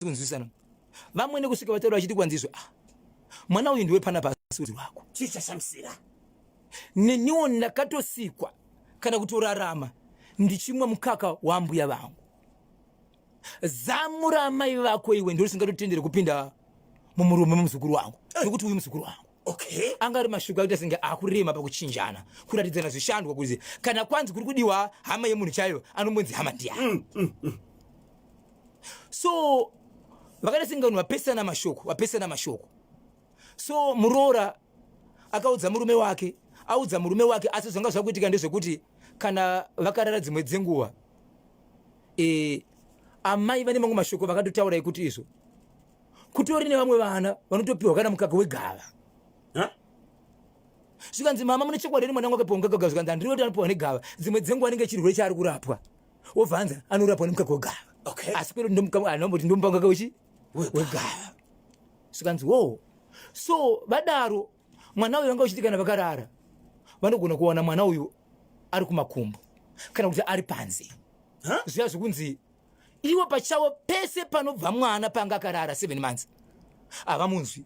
kunzwisana vamwene kusvika vataura vachiti kwanzizve ah mwana uyu ndiwe pana pasi wako chii chashamisira neniwo ndakatosikwa kana kutorarama ndichimwa mukaka wambuya vangu zamu raamai vako iwe ndiro singatotendere kupinda mumurume mumuzukuru wangu nokuti uyu muzukuru wangu okay. anga ari mashoko akuita senge akurema pakuchinjana kuratidzana zvishandwa kuzi kana kwanzi kuri kudiwa hama yemunhu chaiyo anombonzi hama ndiyani mm, mm, mm. so vakaita sengano vapesana mashoko vapesana mashoko so muroora akaudza murume wake audza murume wake asi zvanga zvakuitika ndezvekuti kana vakarara dzimwe dzenguva e, amai vane mamwe mashoko vakatotaura ekuti izvo kutori nevamwe vana vanotopiwa kana mukaka wegava zvikanzi mama mune chokwadi ri mwana wake pongagagava zvikanzi andirioti anopiwa negava dzimwe dzenguva anenge chirwere chaari kurapwa wobva anzi anorapwa nemukaka wegava okay. asi kwedu ndomukamanomboti ndomupangaka wechi wegava sikanzi wo so vadaro mwana uyu vanga uchiti kana vakarara vanogona kuwana mwana uyu ari kumakumbo kana kuti ari panze huh? zviya zvekunzi ivo pachavo pese panobva mwana panga akarara seven months havamunzwi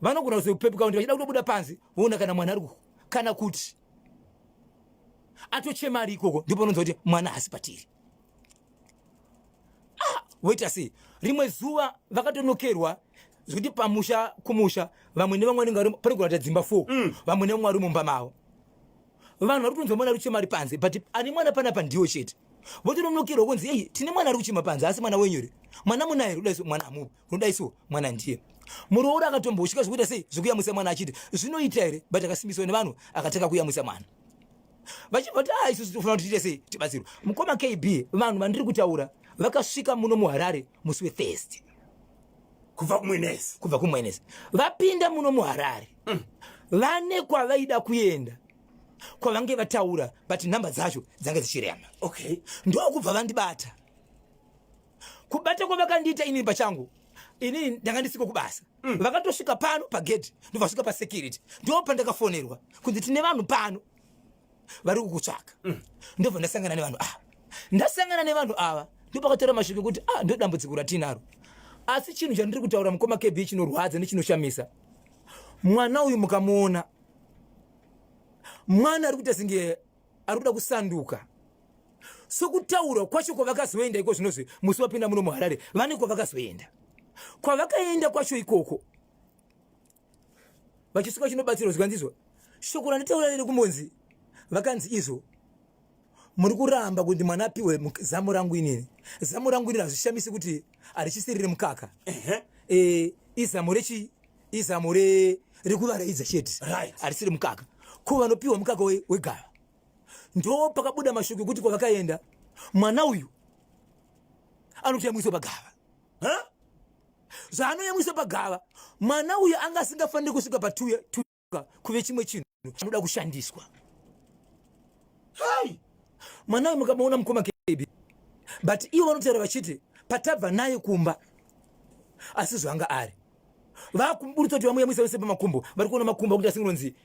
vanogona kuzopepuka kuti vachida kutobuda panze voona kana mwana ari kana kuti atochema ari ikoko ndipo unonzwa kuti mwana hasi patiri ah, woita sei rimwe zuva vakatonokerwa zvekuti pamusha kumusha vamwe nevamwe vanenge vari panogona kuita dzimba four mm. vamwe nevamwe vari mumba mavo vanhu vari kutonzwa mwana ari kuchema ari panze but ane mwana panapa ndiwo chete votononokerwa kunzi ei tine mwana ari kuchema panze asi mwana wenyore mwana munaye ruda mwana amupi unoda isu mwana ndiye muroora akatomboshika zvekuita sei zvekuyamwisa mwana achiti zvinoita here but akasimbiswa nevanhu akatanga kuyamwisa mwana vachibva kuti ah, isusu tofana kuti tiite sei tibatsirwe mukoma kb vanhu vandiri kutaura vakasvika muno muharare musi wethirst kubva kumwenesi kubva kumwenesi vapinda muno muharare mm. vane kwavaida kuenda kwavange vataura but nhamba dzacho dzange dzichirema okay ndokubva vandibata kubata kwavakandiita inini pachangu inini ndanga ndisiko kubasa mm. vakatosvika pano pagedhi ndovasvika pasecurity ndo pandakafonerwa kunzi tine vanhu pano vari kukutsvaka mm. ndobva ndasangana nevanhu ava ndasangana nevanhu ava ndopakatora mashoko ekuti a ah, ndodambudziko ratinaro asi chinhu chandiri kutaura mukoma kb chinorwadza nechinoshamisa mwana uyu mukamuona mwana ari kuita singe ari kuda kusanduka sokutaura kwacho kwavakazoenda iko zvinozve musi wapinda muno muharare vane kwavakazoenda kwavakaenda kwacho ikoko vachisuka chinobatsirwa zvikanzizwa shoko randitaura riri kumbonzi vakanzi izvo muri kuramba kuti mwana apiwe zamu rangu inini zamu rangu inini hazvishamisi kuti harichisiriri mukaka e, izamu rechi izamo rekuvaraidza chete harisiri mukaka ko vanopiwa mukaka wegava ndo pakabuda mashoko ekuti kwavakaenda mwana uyu anotoyamwiswa pagava zvaanoyamwiswa pagava mwana uyu anga asingafaniri kusvika patuya kuve chimwe chinhu anoda kushandiswa hai mwana uyu mukamaona mukoma KB but ivo vanotaura vachiti patabva naye kumba asi zvanga ari vakumburutsa kuti vamuyamwisa vese pamakumbo vari kuona makumbo akuti asingonzi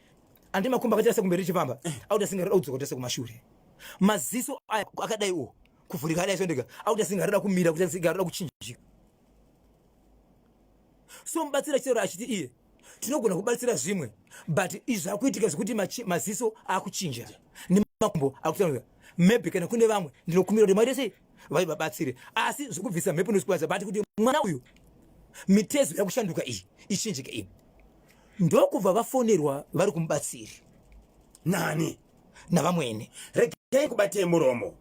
andi makumbo akaita sekumberi chipamba eh. akuti asingarira kudzoka kuti sekumashure maziso aya akadai uwo kuvhurika adai sondeka akuti asingarira kumira kuti asingarira kuchinjika so mubatsira chitaura achiti iye tinogona kubatsira zvimwe but izvi akuitika zvekuti maziso akuchinja nemakumbo akutanga maybe kana kune vamwe ndinokumbira kuti maite sei vai vabatsire asi zvekubvisa mhepo nozikwaza but kuti mwana uyu mitezo yakushanduka iyi ichinjike iyi ndokubva vafonerwa vari kumubatsiri nani navamwene regai kubatei muromo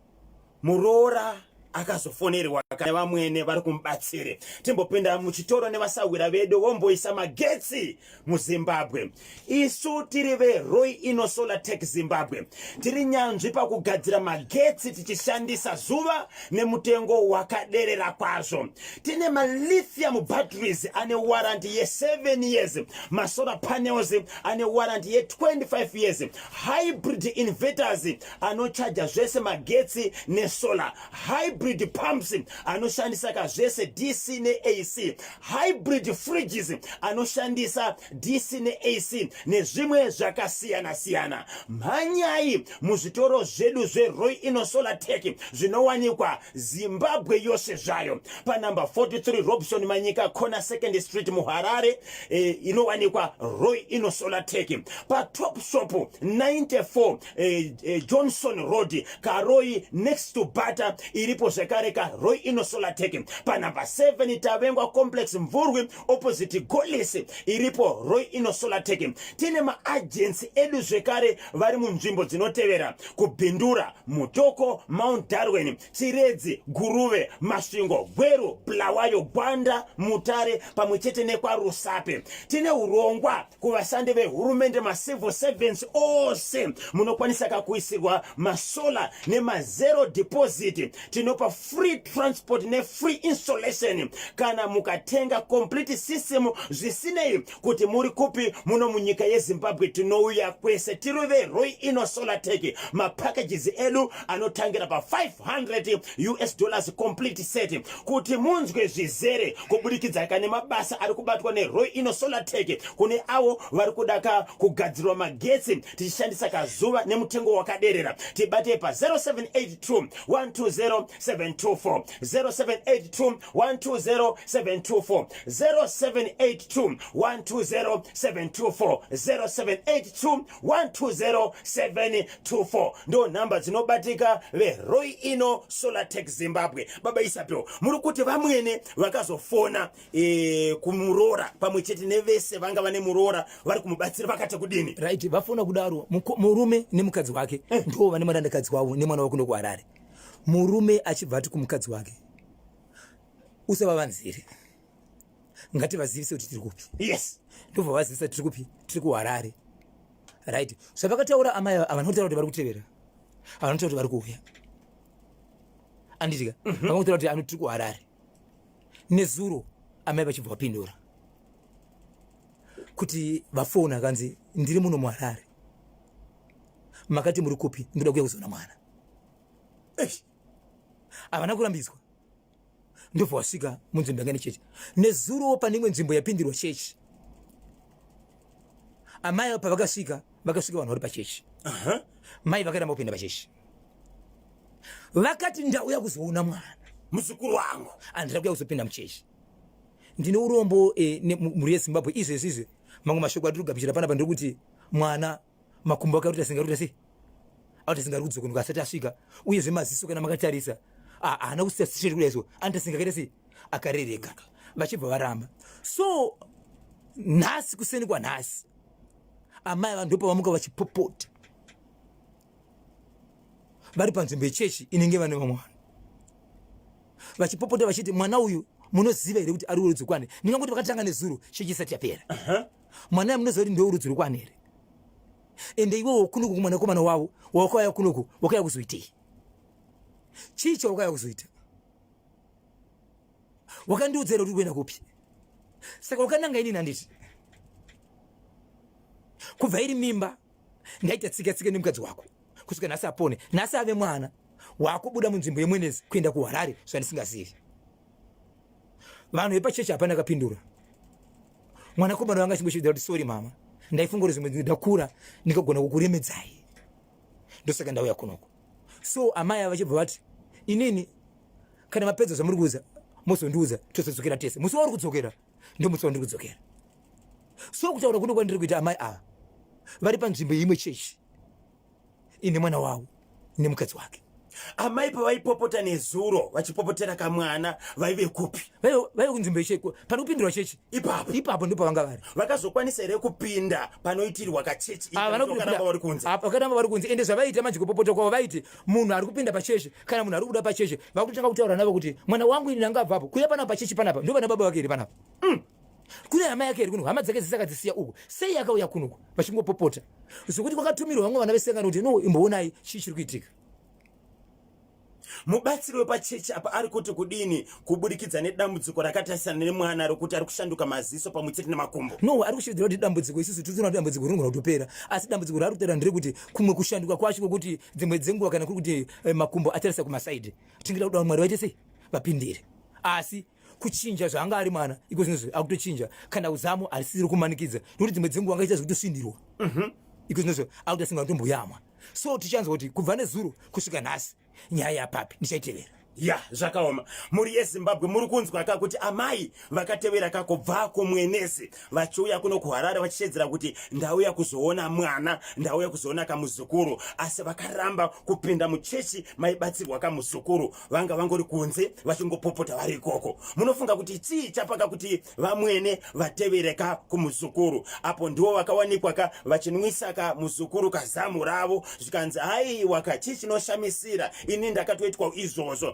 muroora akazofonerwa kana vamwene vari kumubatsire timbopinda muchitoro nevasahwira vedu vomboisa magetsi muzimbabwe isu tiri veroi ino solar tech zimbabwe tiri nyanzvi pakugadzira magetsi tichishandisa zuva nemutengo wakaderera kwazvo tine malithium batteries ane waranti ye7 years masolar panels ane warranty ye 25 years hybrid inverters anochaja zvese magetsi nesolar hybrid pumps anoshandisa ka zvese dc neac hybrid fridges anoshandisa dc neac nezvimwe zvakasiyana siyana mhanyai muzvitoro zvedu zveroy ino solar tech zvinowanikwa zimbabwe yose zvayo panumber 43 robson manyika corner second street muharare eh, inowanikwa roy ino solatec patop shop 94 eh, eh, johnson road karoi next to butter iripo zvekare karoy ino solatec panumber 7 tavengwa complex mvurwi opposite golese iripo roy ino solatec tine maagency edu zvekare vari munzvimbo dzinotevera kubhindura mutoko mount darwin chiredzi guruve masvingo gweru bulawayo gwanda mutare pamwe chete nekwarusape tine urongwa kuvashandi vehurumende macivil servants ose munokwanisa kakuisirwa masola nemazero deposit tinopa free transport nefree installation kana mukatenga complete system zvisinei kuti muri kupi muno munyika yezimbabwe tinouya kwese tiri veroi ino solateki mapackages edu anotangira pa500 us dollars complete set kuti munzwe zvizere kubudikidzaka nemabasa ari kubatwa neroi ino solateki kune avo vari kuda ka kugadzirwa magetsi tichishandisa kazuva nemutengo wakaderera tibatei pa 0782 120 724 0782 120 724 0782 120 724 0782 120 724 ndo nhamba dzinobatika veroi ino solatec zimbabwe baba isapewo muri kuti vamwene vakazofona e, kumuroora pamwe chete nevese vanga vane muroora vari kumubatsira vakati kudini right vafona kudaro murume nemukadzi wake eh. ndo vane murandakadzi wavo nemwana wakuno kuharare murume achibva ati kumukadzi wake usavavanzire ngativazivise kuti tiri kupi yes ndobva vazivisa tiri kupi tiri kuharare right zvavakataura amai havana kutaura kuti vari kutevera havana kutaura kuti vari kuuya anditika mhm. vanga kutaura kuti ano tiri kuharare nezuro amai vachibva vapindura kuti vafoni akanzi ndiri muno muharare makati muri kupi ndoda kuya kuzoona mwana havana kurambidzwa ndobva wasvika munzvimbo yangani chechi nezurowo pane imwe nzvimbo yapindirwa chechi amai avo pavakasvika vakasvika vanhu vari pachechi mai vakaramba kupinda pachechi vakati ndauya kuzoona mwana muzukuru wangu andida kuya kuzopinda muchechi ndine urombo eh, mhuri yezimbabwe izvezvizve mamwe mashoko atiri kugabichira panapa ndiri kuti mwana makumbo ake arikuita senga arikuita sei arikuita senga ari kudzokonoka asati asvika uyezve maziso kana makatarisa haana kusiya straight kudai so anoita senga akaita sei akarereka vachibva varamba so nhasi kuseni kwanhasi amai vanhu ndopavamuka vachipopota vari panzvimbo yechechi inenge vane vamwe vanhu vachipopota vachiti mwana uyu munoziva here kuti ari urudzo kwani ndingangoti vakatanga nezuro chechi isati yapera uh -huh. mwana yamunoziva kuti ndeurudzi rwekwani here ende iwe wokunuku kumwanakomana wavo wawakauya kunuku wakauya kuzoitei chii chawakauya kuzoita wakandiudza here kuti kuenda kupi saka wakananga inini handiti kubva iri mimba ndaita tsika tsika nemukadzi wako kusvika nhasi apone nhasi ave mwana wakubuda munzvimbo yemwenezi kuenda kuharare zvandisingazivi vanhu vepachechi hapana kapindura mwana komana wanga chimbo chidati sorry mama ndaifunga kuti zvimwe ndakura ndikagona kukuremedzai ndosaka ndauya kunoko so amai vachibva vati inini kana mapedza zvamuri kuudza mozondiudza tozodzokera tese musi wauri kudzokera ndomusi wandiri kudzokera so kutaura kuno kwandiri kuita amai ava vari panzvimbo yeimwe chechi ine mwana wavo nemukadzi wake amai pavaipopota nezuro vachipopotera kamwana vaive kupi vaive kunzvimbo yecheko panopindurwa chechi ipapo ipapo ndipo pavanga vari vakazokwanisa here kupinda panoitirwa kachechi ah, vanokaramba vari kunze ah, vakaramba vari kunze ende zvavaiita manje kupopota kwavo vaiti munhu ari kupinda pachechi kana munhu ari kubuda pachechi vakutotanga kutaura navo kuti mwana wangu ini ndangabvapo kuya panapa pachechi panapa ndo vana baba vake here panapa mm. kune hama yake iri kuno hama dzake dzisaka dzisiya uku sei akauya kunoku vachingopopota zvokuti kwakatumirwa vamwe vana vesangano kuti no imboonai chii chiri kuitika mubatsiri wepachechi apa ari kuti kudini kuburikidza nedambudziko rakatarisana nemwana rokuti ari kushanduka maziso pamwe chete nemakumbo no ari kushividzira kuti dambudziko isusu tiriona kuti dambudziko rinogona kutopera asi dambudziko raari kutaura nderekuti kumwe kushanduka kwacho kwekuti dzimwe dzenguva kana kuri kuti eh, makumbo atarisa kumasaidi tingida kuda kuti mwari vaite sei vapindire asi kuchinja zvaanga ari mwana iko zvinozvi akutochinja kana uzamo harisisiri kumanikidza nokuti dzimwe dzenguva angaita zvekutosvindirwa mhm. iko zvinozvi akutosinga kutomboyamwa so tichanzwa kuti kubva nezuro kusvika nhasi nyaya yapapi ndichaitevera ya zvakaoma mhuri yezimbabwe muri kunzwa ka kuti amai vakatevera ka kubva kumwenezi vachiuya kuno kuharare vachiteedzera kuti ndauya kuzoona mwana ndauya kuzoona kamuzukuru asi vakaramba kupinda muchechi maibatsirwa kamuzukuru vanga vangori kunze vachingopopota vari ikoko munofunga kuti chii chapaka kuti vamwene vatevereka kumuzukuru apo ndiwo vakawanikwa ka vachinwisa ka muzukuru kazamu ravo zvikanzi haiwa ka chii chinoshamisira ini ndakatoitwa izvozvo